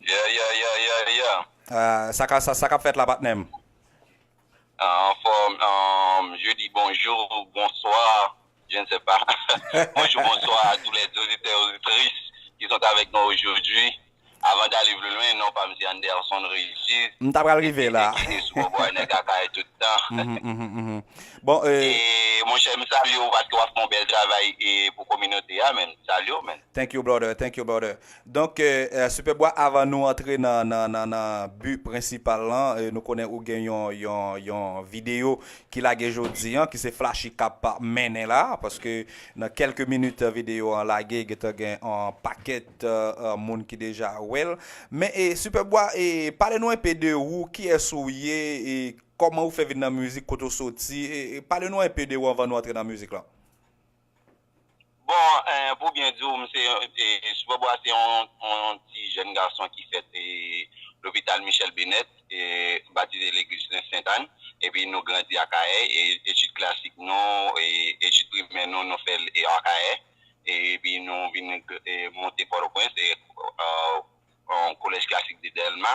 Yeah yeah yeah yeah yeah. Sa ka sa sa kap fèt la patnèm. Anfòm um je di bonjour bonsoir je ne sais pas bonjour bonsoir à tous les auditeurs et auditrices qui sont avec nous aujourd'hui avant d'aller plus loin non pam se Anderson Régis M ta pral rive la ki te sou bòbòy nèg akay tout tan Bon e monchè m salye w paske wap fè yon bèl travay pou kominote a men m salye w men. Thank you brother, thank you brother Donk Super Boy avan nou antre nan but prensipal lan nou konnen ou gen yon video ki lage jodi an ki se Flashy kap mennen la paske nan kelke minit video an lage gentan gen yon pakèt moun ki deja wèl men Super Boy pale nou enpe de ou kiyès ou ye kòman ou fè vin nan mizik kote ou soti pale nou enpe de ou avan nou antre nan mizik lan. Bon pou byen di w mse Super Boy a se yon ti jèn gason ki fèt lopital Michel Bennet batize legliz Sent Ann epi nou grandi Akayè etid klasik nou etid primè nou nou fè l Akayè epi nou vin monte Pòtoprens yon kolèj klasik de Dèlma,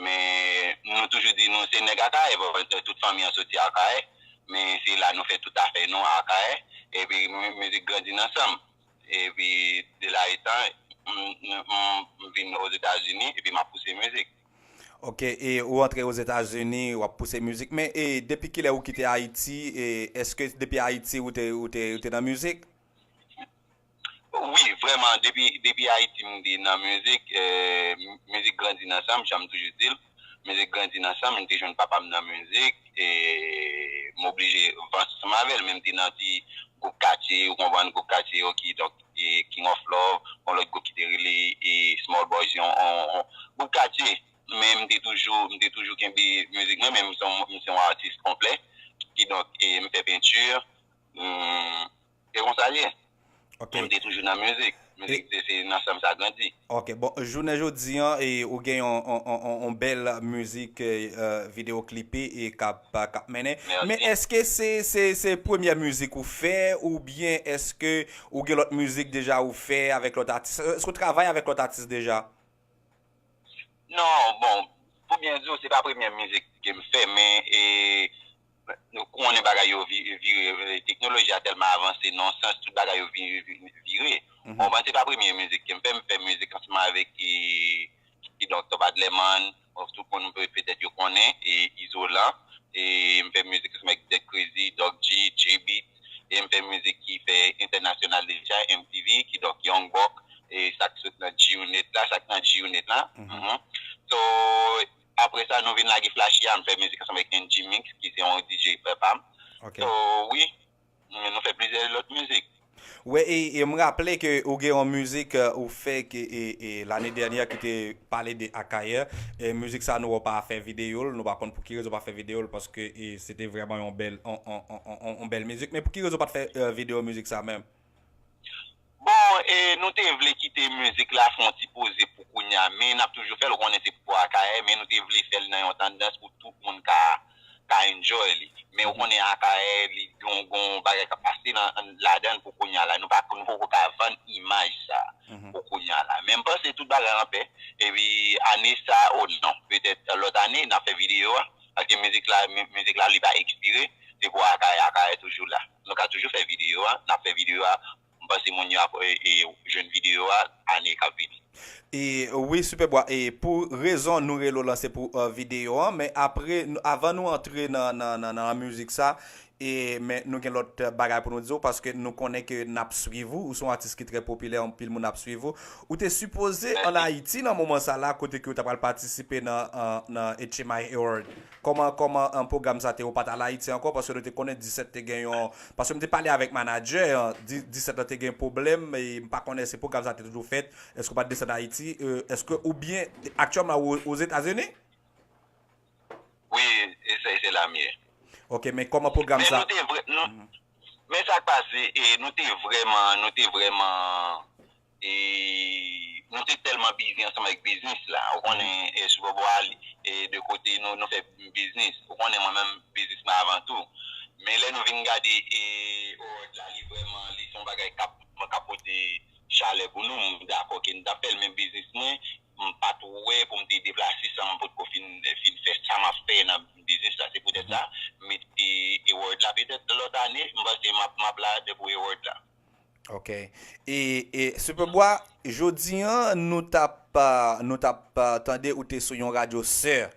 men nou toujou di nou se nèg Akayè, paske tout fanmi an soti Akayè, men se la nou fè tout afè nou Akayè, epi mizik grandi nan san m, epi de la etan, m vin Ozetazini epi m ap pouse mizik. Ok, e ou antre Ozetazini, w ap pouse mizik, men e depi kilè ou kite Ayiti, e èske depi Ayiti ou te nan mizik? Wi vrèman depi ayiti m te nan mizik, mizik grandi nan sanm janm toujou dil, mizik grandi nan sanm m te jwenn papam nan mizik e m oblije viv ansanm avèl men m te nan ti gwoup katye ou konprann gwoup katye yo ki donk king of love gon lòt gwoup ki te rele small boys yon gwoup katye men m te toujou m te toujou kenbe mizik mwen men m se yon atis konplè kidonk m fè pentur m Se konsa l ye. Men m te toujou nan mizik. Mizik se se nan san m sa grandi. Ok. Bon, jounen jodi an e ou gen yon yon bèl mizik video klipe e k ap k ap mennen. Mèsi. Men èske se se se premyè mizik ou fè oubyen èske ou gen lòt mizik deja ou fè avèk lòt atis? Èske ou travay avèk lòt atis deja? Non. Bon, pou byen di w se pa premyè mizik ke m fè men e Nou konnen bagay yo vire teknoloji a tèlman avanse nan yon sans tout bagay yo vire. Bon mwen se pa premye mizik kem fè, m fè mizik ansanm avèk kidonk Top Adlerman, tout moun petèt yo konnen e Izolan e m fè mizik ansanm avèk Dèk Krezi, Dòk G, J-Beat e m fè mizik ki fè entènasyonal deja MTV kidonk Young Buck e sa k sot nan G-Unit la, sa k nan G-Unit la So Apre sa nou vin lage Flashy a, m fè mizik ansanm avèk NG Mix ki se yon DJ frè pa m. So wi, nou fè plizyè lòt mizik. Wè e m raple ke ou gen yon mizik ou fè ki lane dènyè ki te pale de Akayè. Mizik sa nou wè ou pa fè videyo l, nou pa konn pou ki rezon ou pa fè videyo l paske se te vrèman yon bèl mizik. Men pou ki rezon ou pa t fè videyo mizik sa menm? Bon e nou te vle kite mizik la fè yon ti poze pou kounya men nap toujou fèl ou konnen se pou akayè men nou te vle fèl nan yon tandans pou tout moun ka ka enjoy li men ou konnen akayè li gon gon bagay kap pase nan ladann pou kounya la nou pa nou poko ka vann imaj sa pou kounya la men mpanse tout bagay anpè epi ane sa o non petèt lòt ane nap fè video a. Paske mizik la mizik la li pa ekspire se pou akayè akayè toujou la nou ka toujou fè video a nap fè video a m panse moun yo ap jwenn video a ane kap vini. Wi Superbois e pou rezon nou rele w lan se pou video an men apre avan nou antre nan mizik sa E men nou gen lòt bagay pou nou di w paske nou konnen ke n ap swiv ou, ou se yon atis ki trè popilè anpil moun ap swiv ou. Ou te sipoze an Ayiti nan moman sa la kote ke ou ta pral patisipe nan nan HMI Award. Kòman kòman pwogram sa te ou pa t al Ayiti ankò paske nou te konnen 17 te gen yon paske m te pale avèk manadjè an 17 lan te gen pwoblèm e m pa konnen si pwogram sa te toujou fèt èske ou pa t desann Ayiti èske ou byen aktyèlman ou Ozetazini? Wi esey se lam ye. Ok men koman program sa. Men nou te vre nou men sak pase e nou te vreman nou te vreman e nou te telman bizi ansanm avek biznis la ou konnen e sou bobo a e de kote nou nou fe biznis ou konnen mwen menm biznis mwen avan tou men le nou vin gade e oort la li vreman li son bagay kap kap pote chale pou nou m dako ke nou tap fel men biznis mwen M pa t wè pou m te deplase san m potko fin fè sa m ap fè nan biznis la. Se poutèt sa, m mete Ewòd la. Petèt lòt ane, m panse m ap la pou Ewòd la. Ok. E Superbois, jodi an nou t ap tande ou te sou yon radyo sè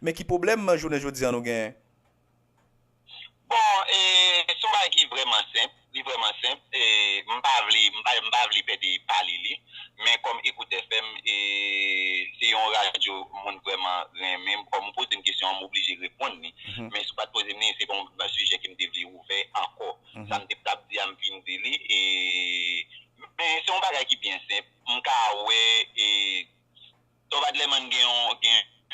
Men ki pwoblèm jounen jodi an nou genyen? Bon, e, se yon bagay ki vrèman senp, li vrèman senp, e, m pa vle, m pa, m pa vle pè de pale li, men kòm Ecout FM, e, se yon radyo moun vrèman renmen, m kòm ou poze m kesyon an, m oblije reponn li, men si w pa t poze m li, se pa yon sijè ke m te vle ouvè ankò. Sa m te p t ap di a, m fin di li, e, men se yon bagay ki byen senp, m ka wè, e. Tom Adlerman gen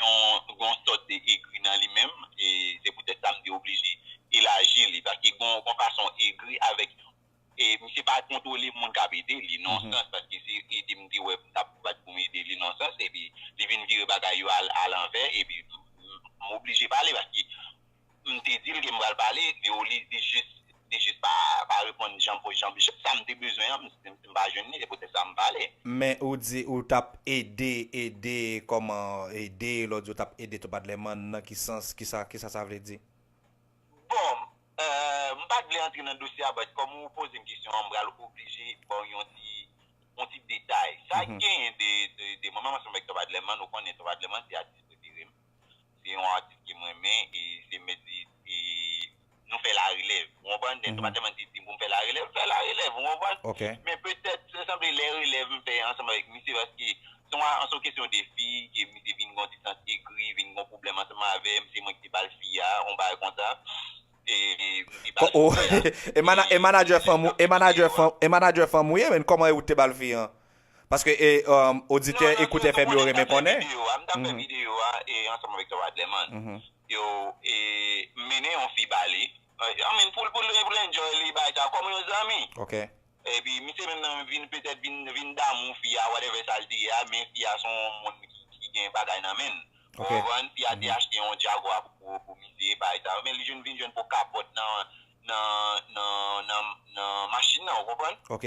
yon sòt de egri nan li menm, e se poutèt sa m te oblije elaji li, paske gen yon fason egri avèk yon, e misye pa kontwole moun k ap ede li nan yon sans, paske se ede m te wè m t ap bat pou m ede li nan yon sans, epi li vin vire bagay yo alanvè, epi m oblije pale paske. M te di l ke m pral pale de ou li jis li jis pa pa reponn jan pou jan sa m te bezwen an m pa jwenn li se poutèt sa m pale. Men ou di ou t ap ede ede kòman ede lè w di ou t ap ede tou padleman nan ki sans kisa kisa sa vle di? Bon m pa t vle antre nan dosye a but kòm ou poze m kesyon an m pral oblije ba w yon ti yon ti detay sa genyen de mwen menm ansanm avèk Top Adlerman ou konnen Top Adlerman se atis prefere m Se yon atis ke m renmen e se mèt li e nou fè larelèv. Ou konprann? Dèske pa tèlman di di pou m fè larelèv, m fè larelèv. Ou konprann? Men petèt se sanble lè relèv m fè ansanm avèk misye paske se yon kesyon de fi ke misye vin gen yon ti sans egri, vin gen yon pwoblèm ansanm avè m, se mwen ki te ba l fi a, yon bagay konsa. E m te ba l fi a. E manadjè fanm ou ye men? Kòman ou te ba l fi an? Paske oditè ekout FM yo renmen konnen. Yo konnen m ta fè videyo a ansanm avèk Tom Adleman. Yo mennen yon fi ba li. I mean pou l enjoy li bay sa kòm yon zanmi. Ok. Epi misye menm nan vin petèt vin damou fi a whatever sa l te ye a men fi a se yon moun ki gen bagay nan men l. Ou konprann? Fi a te achte yon Jaguar pou misye bay sa. Men li vin jwenn po kapòt nan machin nan ou konprann? Ok.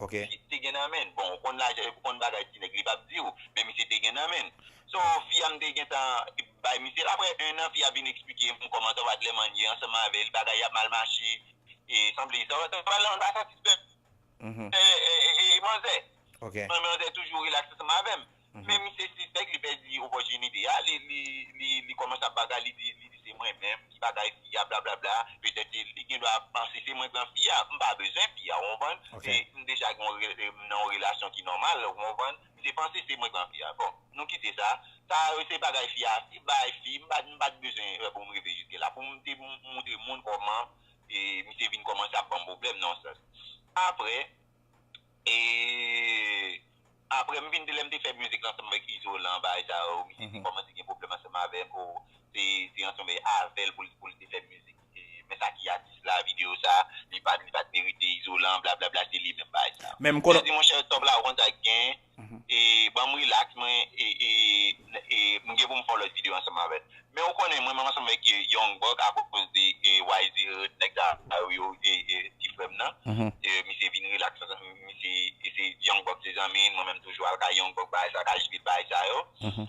Ok. Misye te gen nan menn. Bon ou konn lajan epi ou konn bagay ti nèg li pap diw, men misye te gen nan menn. So fi a m te gentan bay misye l aprè 1 an fi a vin eksplike m kòman sa va tlèman n ye ansanm avè l, bagay ap mal mache e sanble sa va travay la pa satisfè manzè. Ok. Manzè toujou rilaks ansanm avè m. Men misye sispèk, li pèdi opòtinite a, li kòmanse ap bagay, li di se mwen menm ki bagay fi a, blablabla, petèt se li, li gen dwa panse se mwen ki pran fi a, m pa bezwen fi a, ou konprann, m deja gen yon relasyon ki nòmal, ou konprann, misye panse se mwen ki pran fi a, bon, nou kite sa, sa yo se bagay fi a, se bagay fi, m pa t bezwen pou m rive jiske la, pou m te montre moun kòman misye vin kòmanse ap ban m pwoblèm nan yon sans. Aprè, E aprè m vin di lè m te fè mizik lan ansanm avèk Izolan bagay sa yo misye te kòmanse gen pwoblèm ansanm avè m oh se ansanm avè l pou l te fè mizik men sa ki atis la videyo sa li pat merite Izolan blablabla se li menm bagay sa yo. Mwen di monchè Top la ou konn sa ki genyen. e banm relax mwen e m gen pou m fè yon lòt video ansanm avèl men ou konnen mwen menm ansanm avèk Young Buck akoz de YZ Hood nèg sa yo e ti frè m nan misye vin relax avèm misye se Young Buck se zanmi l mwen menm toujou al kay Young Buck bagay sa yo kay JP bagay sa yo.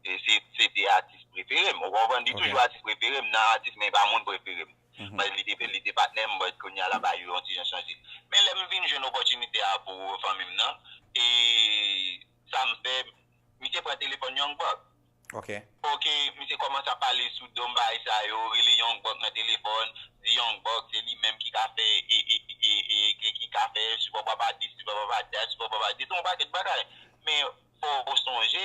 Se te atis prefere m. Ou konprann? Li toujou atis prefere m nan atis men li pa moun prefere m. Paske li te patnè m but kounya la bagay yo yon ti jan chanje. Men lè m vin jwenn opòtinite a pou fanmi m nan e sa m fè, misye pran telefòn Young Buck. Ok, misye kòmanse ap pale sou do m bagay sa yo, rele Young Buck nan telefòn, di Young Buck se li menm ki ka fè e ki ka fè sipòpapa dis, sipòpapa dat, sipòpapa dat, yon pakèt bagay. Men fò ou sonje,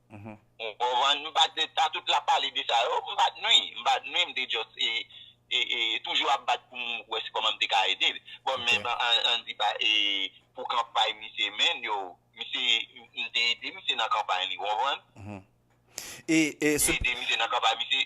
Ou konprann? M pa di sa tout lap pale de sa yo, m pa nwi, m pa nwi m te just toujou ap bat pou m wè si kòman m te ka ede l. Bon men an di pa e pou kanpay misye menn yo, misye m te ede misye nan kanpay li ou konprann? M te ede misye nan kanpay misye.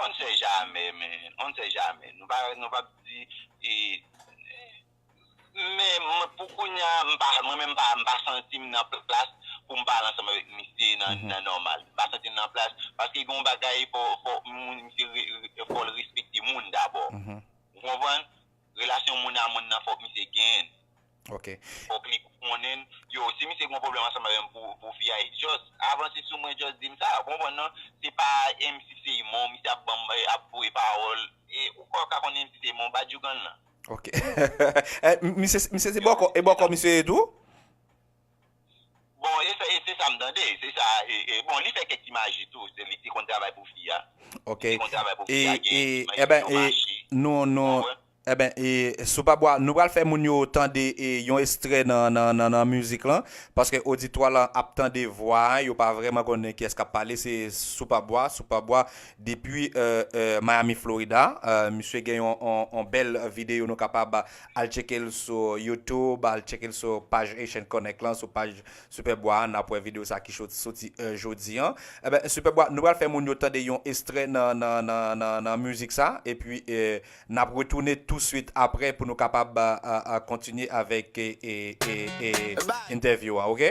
On ne sait jamais men, on ne sait jamais. Nou pa, nou pap di e Men mwen pou kounya m pa, mwen menm m pa, m pa santi m nan plas pou m pale ansanm avèk misye nan nan nòmal. M pa santi m nan plas paske gen yon bagay fò, fò moun misye re, fò l respekte moun dabò. Ou konprann? Relasyon moun a moun nan fòk misye genyenn. Ok. Fòk li konnenn. Yo, si misye gon pwoblèm ansanm avèm pou pou fi a, just avanse sou mwen just dim sa. Ou konprann non? Se pa MC Seymon misye ap banm ap voye pawòl. E ou pa ka konn MC Seymon badjougan lan. Ok. Misye se bòkò, e bòkò misye ye tou? Bon e fè e se sa m tande se sa e bon li fè kèk ti maji tou se li te konn travay pou fi a ok li te konn travay pou fi a gen ti maji nan yon mache nou nou Eben e sou pa bwa nou pral fè moun yo tande e yon estrè nan nan nan nan mizik lan paske oditwa lan ap tande vwa a yo pa vrèman konnen kiyès kap pale se sou pa bwa sou pa bwa depi Miami Florida misye gen yon yon bèl videyo nou kapab Al tcheke l sou YouTube, al tcheke l sou paj Haitian Connect lan, sou paj Super Bois a, n ap wè videyo sa ki soti jodi an. Enben, Super Bois, nou pral fè moun yo tande yon estrè nan mizik sa, epi n ap retounen tousuit apre pou nou kapab kontinye avèk entèvyou an, oke?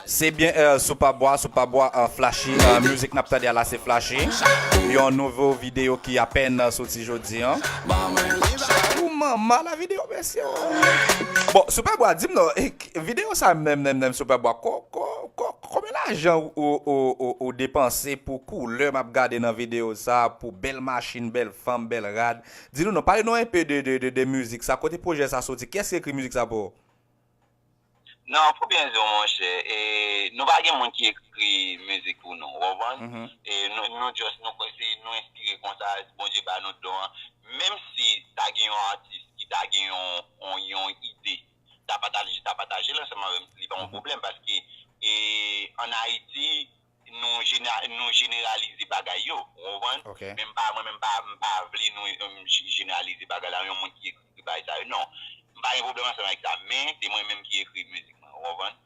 Se byen earl sou pa bwa sou pa bwa an flashy music nap tande a la se flashy yon nouvo video ki apèn soti jodi an. Ooh mama la video mesye ooh. Bon sou pa bwa dim non video sa menm menm menm sou pa bwa ko ko ko konbyen lajan ou depanse pou koulè map gade nan video sa pou bèl machin bèl fanm bèl rad di nou non pale nou enpe de de de music sa kote projè sa soti kiyès ki ekri music sa pou ou. Non pou byen diw monchè e nou pa gen moun ki ekri mizik pou nou ou konprann e nou just nou kwè se nou enspire konsa Bondye ba nou don an menm si ta gen yon atis ki ta gen yon ide ta patajel ansanm avèm li pa yon pwoblèm paske e an Ayiti nou jeneralize bagay yo ou konprann men m pa mwen menm m pa vle nou jeneralize bagay la yon moun ki ekri bagay sa yo non m pa gen pwoblèm ansanm avèk sa men se mwen menm ki ekri mizik mwen ou konprann.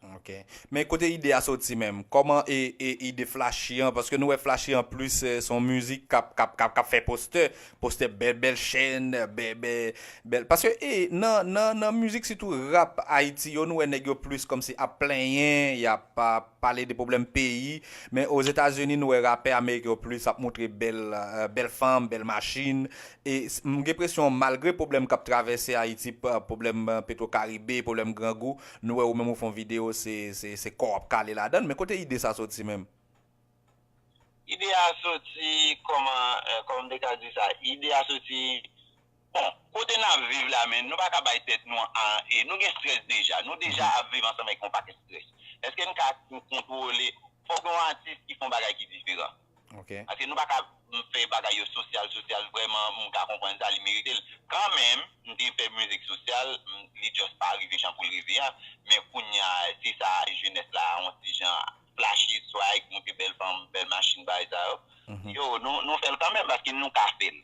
Men kote ide a soti menm kòman e ide flachi an paske nou wè flachi an plis se yon mizik kap fè postè postè bèl bèl chèn bèl paske e nan mizik sitou rap ayiti yo nou wè nèg yo plis kòmsi ap plenyen yap ap pale de pwoblèm peyi men ozetazini nou wè rapè ameriken yo plis ap moutre bèl bèl fanm bèl machin e m gen presyon malgre pwoblèm kap travèse ayiti pwoblèm petro karibe pwoblèm grangou nou wè ou menm ou fon video se se se kò wap kale ladann men kote ide sa soti menm. Ide a soti kòman kòman m te ka di sa ide a soti Bon, kote n ap viv la menn, nou pa ka bay tèt nou e nou gen strès deja. Nou deja ap viv ansanm avèk yon pakèt strès. Èske n ka kontwole, fò gen yon atis ki fè yon bagay ki diferan. Paske nou pa ka fè bagay yo sosyal sosyal vrèman, m ka konprann sa, li merite l. Kanmenm, m te fè mizik sosyal, li just pa rive jan pou l rive an. Men kounya, se sa jenès la yon ti jan flashy, swag, monte bèl fanm, bèl machin, bagay sa yo. Yo, nou fè l kanmenm paske nou ka fè l.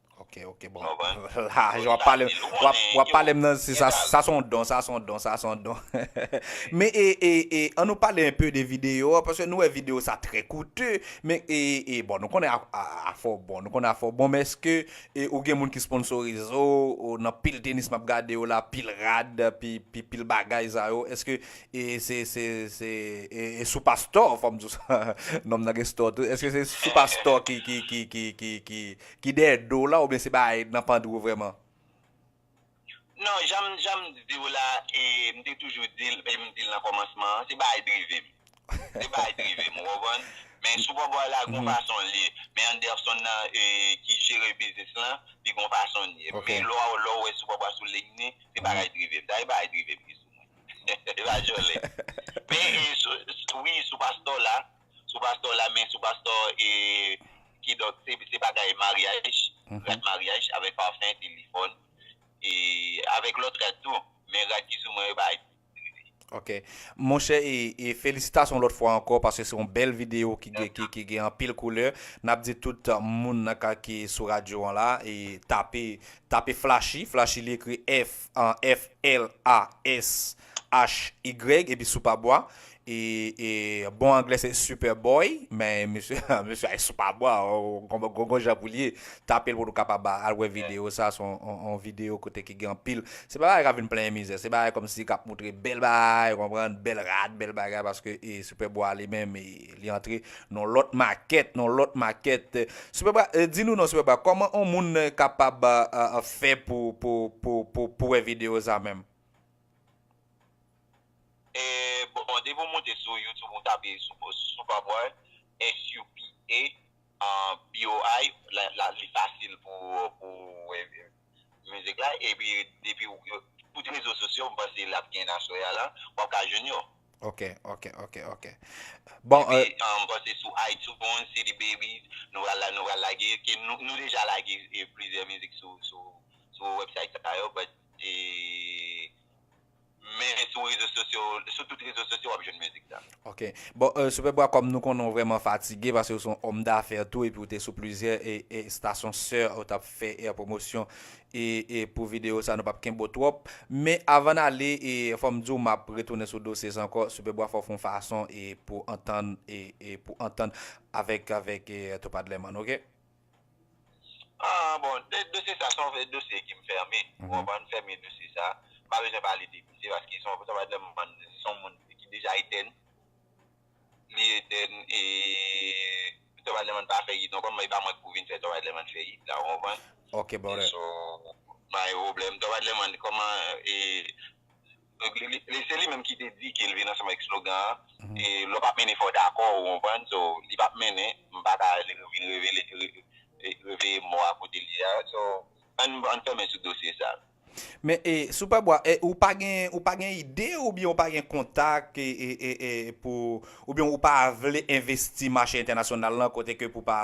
Ok, ok, bon. La, wap pale, wap pale m nan, sa son don, sa son don, sa son don. Men, e, e, e, an nou pale un peu de video, paske nou wè video sa trè koute, men, e, e, bon, nou konnen afè w bon, nou konnen afè w bon, men eske ou gen moun ki sponsorize w, nan pil tenis map gade yo la, pil rad, pi, pi, pil bagay sa yo, eske e, se, se, se, e, e sou pastò, fòm di w sa, nonm nan gen stò tou, eske se sou pastò ki, ki, ki, ki, ki, ki. Ki dèyè do w la oubyen se bay nan pandri w vrèman? Non, janm janm di w la e m te toujou di l e m di l nan kòmansman an, se bay drive m. Se bay drive m, ou konprann? Men sou bò bò w la gon fason l ye. Men Anderson nan ki jere biznis lan, li gon fason l ye. Men lò w wè sou bò bò a sou liy ni, se bagay drive m. Sa e bagay drive m ki sou mwen. E pa jòlè. Men wi sou pastò w la, sou pastò la men sou pastò e kidonk se bagay maryaj rad maryaj avèk pafen telefòn e avèk lòt rad tou men rad ki sou mwen yo pa ekziste. Ok monchè e felisitasyon yon lòt fwa ankò paske se yon bèl videyo ki gen anpil koulè nap di tout moun nan ka ki sou radyo an la e tape tape flashi flashi li ekri F L A S HY epi soupa bwa e e bon anglè se super boy men mesye mesye ay soupa bwa gon jan pou l ye tapel pou nou kapab al wè video sa son on video kote ki gen anpil se pa bagay kap vin plenyen mizè se bagay kòm si kap moutre bèl bagay ou konprann bèl rad bèl bagay paske e super bwa li menm li antre non lòt makèt non lòt makèt super bwa di nou non super bwa kòman on moun kapab fè pou pou pou pou wè video sa menm. Bon depi ou moute sou youtube ou tape Superboy SUPABOY li fasil pou wè mizik la epi depi tout rezo sosyo m panse lap gen nan soya la wap ka jwenn yo. Ok ok ok ok bon. M panse sou iTunes, CD baby nou pral la nou pral lage nou deja lage plizyè mizik sou website sa yo but. e men sou rezo sosyo sou tout rezo sosyo wap jwenn mizik sa. Ok bon Superbois kòm nou konnen ou vrèman fatige paske ou se yon homme d'affaires tou epi ou te sou plizyè estasyon sè ou tap fè pwomosyon e pou videyo sa nou pap kenbe w twòp men avan n ale fòm di w map retounen sou dosye sa ankò Superbois fòw fon fason pou antann pou antann avèk avèk Topadleman ok. Aah bon dosye sa son dosye ki fèmen ou konprann fèmen dosye sa m pa bezwen pale de misye paske son moun ki deja etèn li etèn e Top Adlerman pa fè it ankò men e pa mwen ki pou vin fè Top Adlerman fè it la ou konprann ok brother m pa gen pwoblèm Top Adlerman kòman e Li se li menm ki te di ke l vin ansanm avèk slogan an, e lè w pa mennen fò w dakò ou konprann, so li pa p mennen, m pa ka vin revele reveye mò a kote l ye a, so ann fèmen sou dosye sa. Men e Superbois e ou pa gen ou pa gen ide oubyen ou pa gen kontak e e e pou oubyen ou pa vle envesti mache entènasyonal lan kote ke pou pa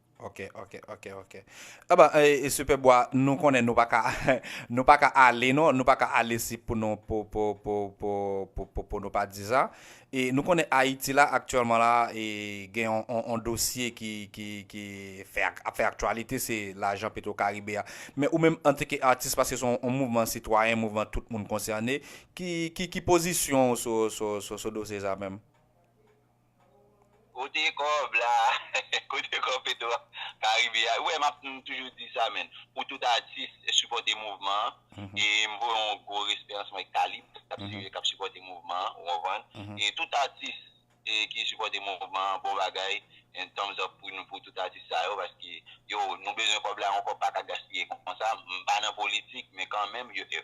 Ok ok ok ok aba e super bwa nou konnen nou paka nou paka ale non nou paka ale si pou nou pou pou pou pou pou pou pou nou pa di sa e nou konnen ayiti la aktyèlman la e gen on on on dosye ki ki ki fè ak ap fè aktyalite se lajan petro karibe a men ou menm antike atis paske son on mouvman sitwayen mouvman tout moun konsène ki ki ki pozisyon ou sou sou sou sou dosye sa menm Kote kob la Kote kob petro karibe a Wè map m toujou di sa menn Pou tout atis sipòte mouvman an E m voye yon gwo respè ansanm avèk Talib kap sipòte mouvman an ou konprann E tout atis ki sipòte mouvman an bon bagay Yon thumbs up pou nou pou tout atis sa yo Paske yo nou bezwen kob la yon kob paka gaspiye konsa M pa nan politik men kanmenm yo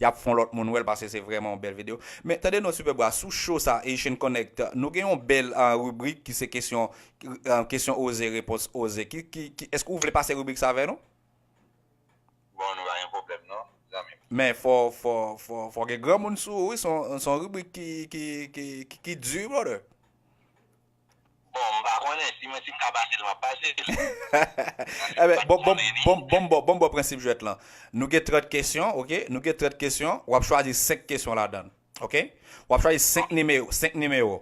Yap fon lot moun wel pase se vreman yon bel video. Men tande non Super Bra sou show sa Haitian Connect nou gen yon bel rubrik ki se kesyon kesyon oze repons oze ki ki eske ou vle pase rubrik sa avè nou? Bon nou pa gen pwoblem non zanmim. Men fò fò fò fò gen granmoun sou ou wi son ribrik ki ki ki di wi brother. Bon m pa konnen, si mwen si m ka pase l m ap pase l. Enben, bon bon bon bon m ba w bon m ba w prensip jwèt lan. Nou gen 30 kesyon, ok, nou gen 30 kesyon, w ap chwazi 5 kesyon ladan l, ok. W ap chwazi 5 nime 5 nimewo.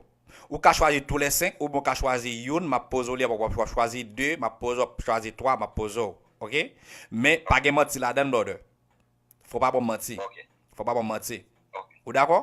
Ou ka chwazi tou lè 5 oubyen w ka chwazi youn, m ap poze w li apre w ap chwazi 2, m ap poze w ap chwazi 3, m ap poze w, ok. Men, pa gen manti ladan l brother. Fò w pa ba w manti. Fò w pa ba w manti. Ou dakò?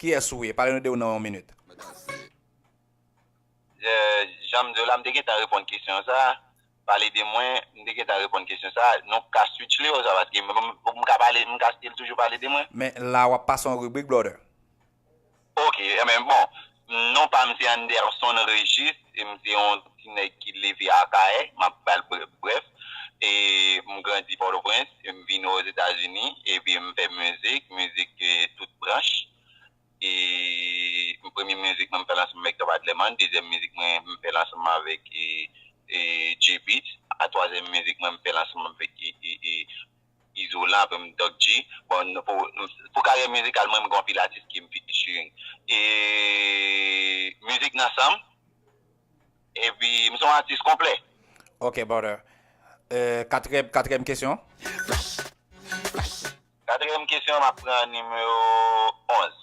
Kiyes ou ye? Pale nou de ou nan yon minit. Jan m di w la, m te gentan reponn kesyon sa a. Pale de mwen, m te gentan reponn kesyon sa a. Nou ka switch li osa paske m ka pale, m ka stil toujou pale de mwen. Men la w ap pase yon ribrik brother. Ok, enben bon, non pa m se Anderson Régis e m se yon ti nèg ki leve Akayè, m ap ba l brèf. E m grandi Pòtoprens, e m vini Ozetazini, epi m fè mizik, mizik tout branch. E premye mizik mwen m fè l ansanm avèk Top Adlerman, dezyèm mizik mwen m fè l ansanm avèk J-Beatz, a twazyèm mizik mwen m fè l ansanm avèk. Bizou la pou m Doc G. Bon pou karyè mizikal mwen m gen yon pil atis ki m featuring. E mizik nan san m. Epi m se yon atis konplè. Ok brother. Katriyèm kesyon. Katriyèm kesyon m ap pran nimewo 11.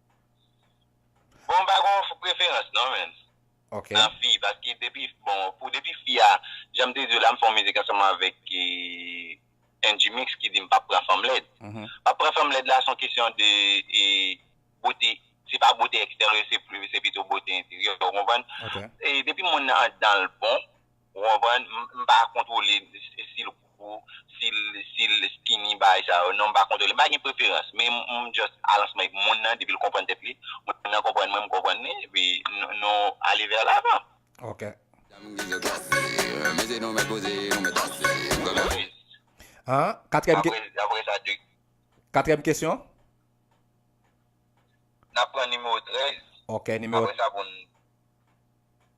Bon pa gon preferans non menn nan fi paske depi bon pou depi fi a janm te diw la m fè yon mizik ansanm avèk N-G-Mix ki dim pap pran fanm lèd pap pran fanm lèd la son kesyon de bote se pa bote eksteryè se pito bote enteryè ou konprann depi moun nan andanl bon. Ou konprann? M pa kontwole si l gwo, si l skinny bagay sa yo. Non m pa kontwole. M pa gen preferans. Men m just alansman ak moun nan depi l konprann tèt li. Moun nan konprann mwen, m konprann li. Epi nou ale vè lavan. Ok. An? Katrèm ke. Apre sa 2. Katrèm kesyon? N ap pran nimewo 13. Ok. Nimewo. Apre sa pou n.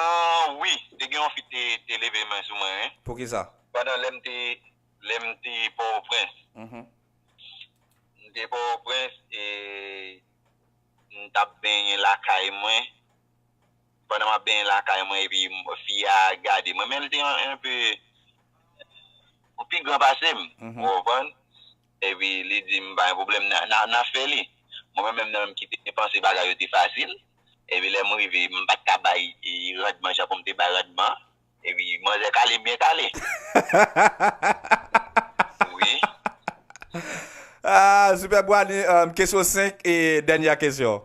Ahh wi te gen yon fi ki te leve men sou mwen wi. Poukisa? Pandan lèm te lèm te pòtoprens m te pòtoprens e m tap benyen lakay mwen pandan map benyen lakay mwen epi fi a gade mwen men li te enpe pi gran pasem ou konprann. Epi li di m pa gen pwoblèm n a fè li. Mwen menm menm nan m ki te panse bagay yo te fasil. Epi lè m rive m pa t ka bay randman jan pou m te bay randman an. Epi manzè kale m byen kale. Wi. Aa Sipè Bwani, kesyon 5 e dènyè kesyon.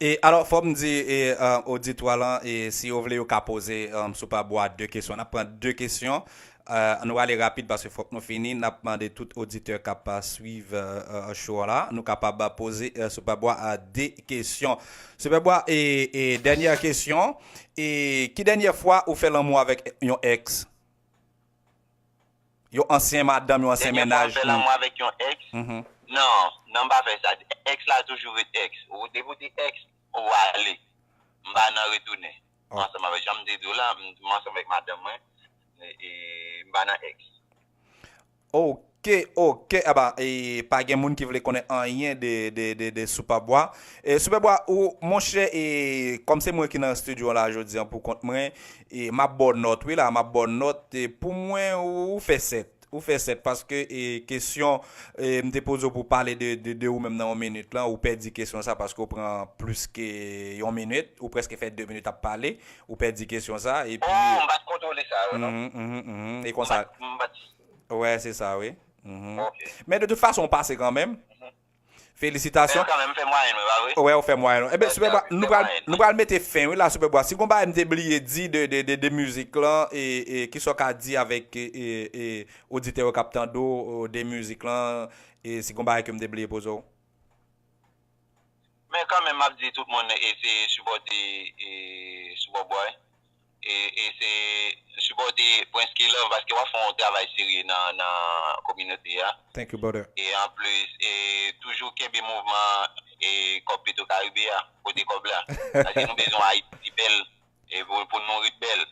E alò fòm di e oditwa lan e si yo vle yo ka poze sou pa bwa 2 kesyon nap pran 2 kesyon e nou ale rapid paske fòk nou fini nap mande tout oditè kap swiv show an la nou kapab poze sou pa bwa 2 kesyon sou pa bwa e e dènyè kesyon e ki dènyè fwa ou fè lanmou avèk yon ex? Yon ansyen madanm, yon ansyen mennaj. Dènye fwa w fè lanmou avèk yon èks? Non, non m pa fè sa. Èks la toujou ret èks. Depi w di èks, ou ale. M pa nan retounen. Ansanm avèk, jan m te di w la, m ansanm avèk madanm mwen e m pa nan èks. Ke ok aba pa gen moun ki vle konnen anyen de super bwa super bwa ou monchè e kòm se mwen ki nan studio an la jodi an pou kont mwen e map baw nòt wi la map baw nòt pou mwen ou fè 7 ou fè 7 paske e kesyon mte poze w pou pale de ou menm nan yon minit lan ou pèdi kesyon sa paske ou pran plis ke yon minit ou prèske fè 2 minit ap pale ou pèdi kesyon sa epi oh mpat kontwole sa yo non mpat mpat. Wè se sa wi. Men de tout fason ou pase kanmenm. Felisitasyon. Men kanmenm m fè mwayenn mwen pa vre? Wè ou fè mwayenn ou. Ebyen Super Bwa nou pral mete fen wi la Super Bwa. Si gon bagay m te bliye di de mizik lan e kisa w ka di avèk oditè yo k ap tande w de mizik lan e si gon bagay ke m te bliye poze w? Men kanmenm m ap di tout moun eseye sipòte Super Bwa. e se sipòte prince K-love paske wap fè yon travay serye nan kominote a Thank you brother. e anplis e toujou kenbe mouvman e kòb petro karibe a pote kòb la paske nou bezwen ayiti bèl e pou nou ret bèl.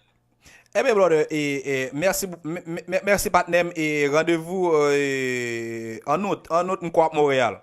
Ebyen brother e merci merci patnèm e randevou en août en août m kwè wap Montréal.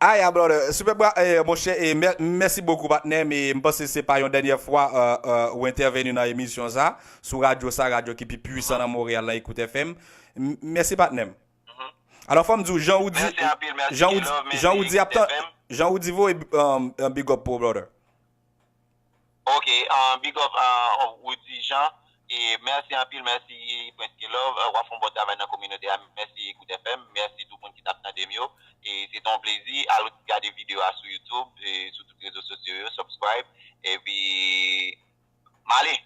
Aya brother, super bra monchè mèsi bokou patnè m e m panse se pa yon dènyè fwa ou entèveni nan emisyon sa sou radyo sa radyo ki pi pwisan nan Montréal lan Ecoute FM mèsi patnè m alò fò m di w jan ou di jan ou di jan ou di voye big up pou w brother. Ok big up Roody Jean e mèsi anpil mèsi Prince K-love wap fè yon bon travay nan kominote a mèsi Ecoute FM mèsi tout moun ki tap tandem yo e se te yon plezi al gade video a sou YouTube e sou tout rezo sosyo yo subscribe epi m ale.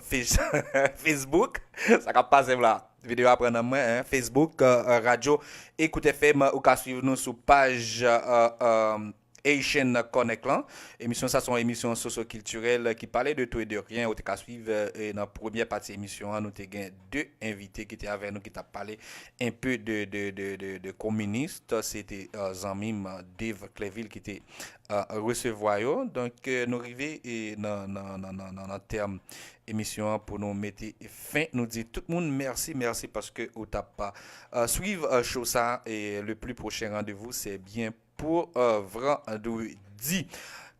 Facebook, sa kap pase m la? Video a pran nan mwen hein. Facebook, radyo Ecoute FM, ou ka swiv nou sou paj Haitian Connect lan. Emisyon sa son emisyon sosyokiltirèl ki pale de tou e de ryen. Ou te ka swiv nan premyè pati emisyon an nou te gen 2 envite ki te avè nou ki tap pale enpe de kominist. Se te zanmi m Dave Clevil ki te resevwa yo donk nou rive nan tèm emisyon an pou nou mete fen nou di tout moun mèsi mèsi paske ou tap swiv cho sa e le pli pwochen randevou se byen pou vrandredi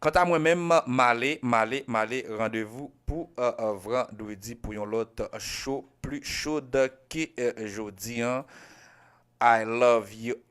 kanta mwen menm male male male randevou pou vrandredi pou yon lòt cho pli chod ke jodi an I love you.